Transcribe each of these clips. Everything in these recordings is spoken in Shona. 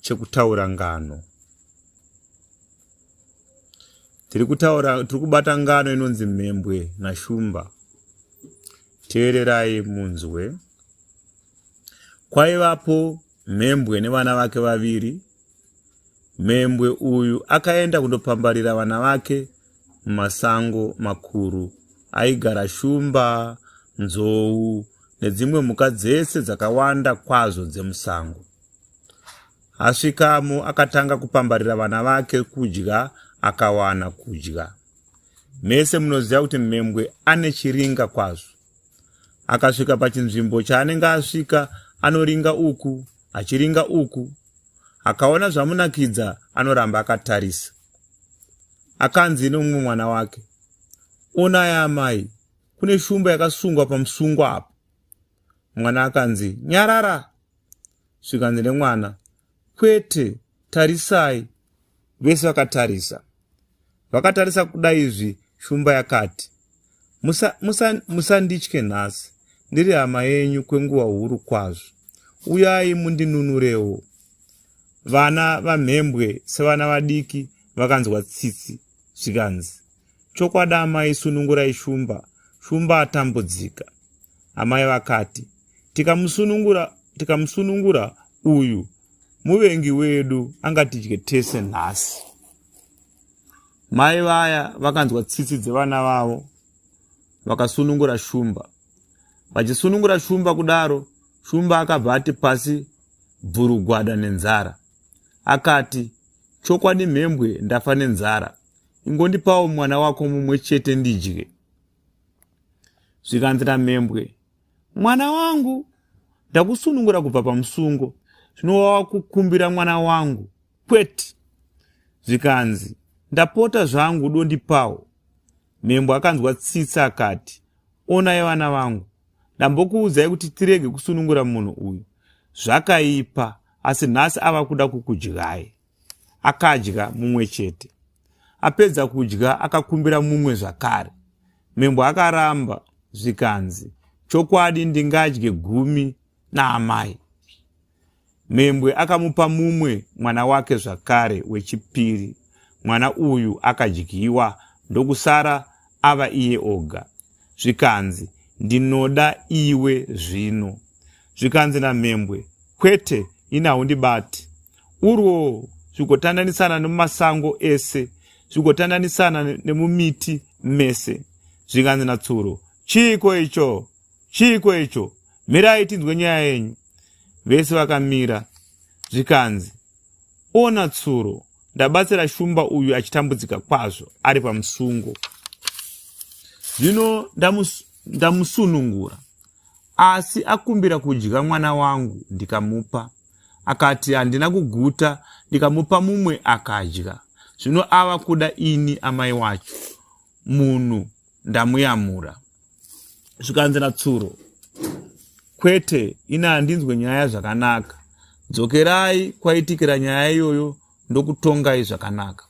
chekutaura ngano tiri kutaura tiri kubata ngano inonzi mhembwe nashumba teererai munzwe kwaivapo mhembwe nevana vake vaviri mhembwe uyu akaenda kundopambarira vana vake mumasango makuru aigara shumba nzou nedzimwe mhuka dzese dzakawanda kwazvo dzemusango Asvikamo akatanga kupambarira vana vake kudya akawana kudya. Mese munoziva kuti mhembwe ane chiringa kwazvo. Akasvika pachinzvimbo chaanenge asvika anoringa uku achiringa uku. Akaona zvamunakidza anoramba akatarisa. Akanzi nomumwe mwana wake, onai amai, kune shumba yakasungwa pamusungwa apo. Mwana akanzi, nyarara, svikanzi nemwana kwete tarisai vese vakatarisa vakatarisa kuda izvi shumba yakati musanditye musa, nhasi ndiri hama yenyu kwenguva huru kwazvo uyai mundinunurewo vana vamhembwe sevana vadiki vakanzwa tsitsi zvikanzi Chokwadi amai sunungurai shumba, shumba atambudzika. Amai vakati, tikamusunungura, tikamusunungura uyu muvengi wedu angatidye tese nhasi. Mai vaya vakanzwa tsitsi dzevana vavo vakasunungura shumba. Vachisunungura shumba kudaro, shumba akabva ati pasi bvurugwada nenzara. Akati, chokwadi mhembwe ndafa nenzara. ingondipawo mwana wako mumwe chete ndidye zvikanzi namhembwe mwana wangu ndakusunungura kubva pamusungo zvino wava kukumbira mwana wangu kwete zvikanzi ndapota zvangu dondipawo mhembwe akanzwa tsitsi akati onai vana vangu ndambokuudzai kuti tirege kusunungura munhu uyu zvakaipa asi nhasi ava kuda kukudyai akadya mumwe chete apedza kudya akakumbira mumwe zvakare membo akaramba zvikanzi chokwadi ndingadye gumi naamai membwe akamupa mumwe mwana wake zvakare wechipiri mwana uyu akadyiwa ndokusara ava iye oga zvikanzi ndinoda iwe zvino zvikanzi namhembwe kwete ini haundibati urwo zvigotandanisana nemumasango ese zvigotandanisana nemumiti mese zvikanzi natsuro chiiko icho chiiko icho mirai tinzwe nyaya yenyu vese vakamira zvikanzi ona tsuro ndabatsira shumba uyu achitambudzika kwazvo ari pamusungo zvino ndamusunungura asi akumbira kudya mwana wangu ndikamupa akati handina kuguta ndikamupa mumwe akadya zvino ava kuda ini amai wacho munhu ndamuyamura zvikanzi natsuro kwete ini handinzwe nyaya zvakanaka dzokerai kwaitikira nyaya iyoyo ndokutongai zvakanaka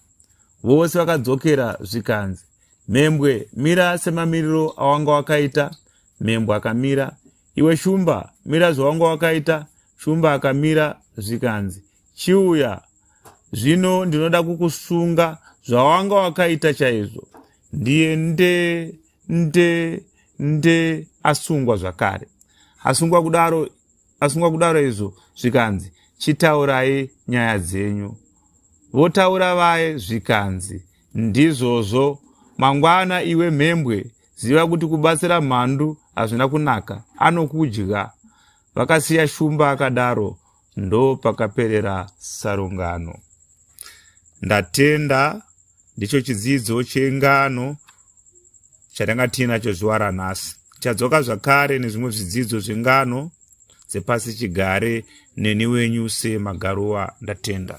vose vakadzokera zvikanzi mhembwe mira semamiriro awanga wakaita Mhembwe akamira. Iwe Shumba, mira zvawanga wakaita. Shumba akamira zvikanzi, Chiuya, zvino ndinoda kukusunga zvawanga wakaita chaizvo. Ndiye nde nde nde asungwa zvakare. Asungwa kudaro asungwa kudaro izvo zvikanzi, Chitaurai nyaya dzenyu. Votaura vaye zvikanzi, Ndizvozvo mangwana iwe mhembwe ziva kuti kubatsira mhandu hazvina kunaka anokudya vakasiya shumba akadaro ndo pakaperera sarungano ndatenda ndicho chidzidzo chengano chatanga tiinacho zuva ranhasi tichadzoka zvakare nezvimwe zvidzidzo zvengano dzepasi chigare neni wenyu semagaruwa ndatenda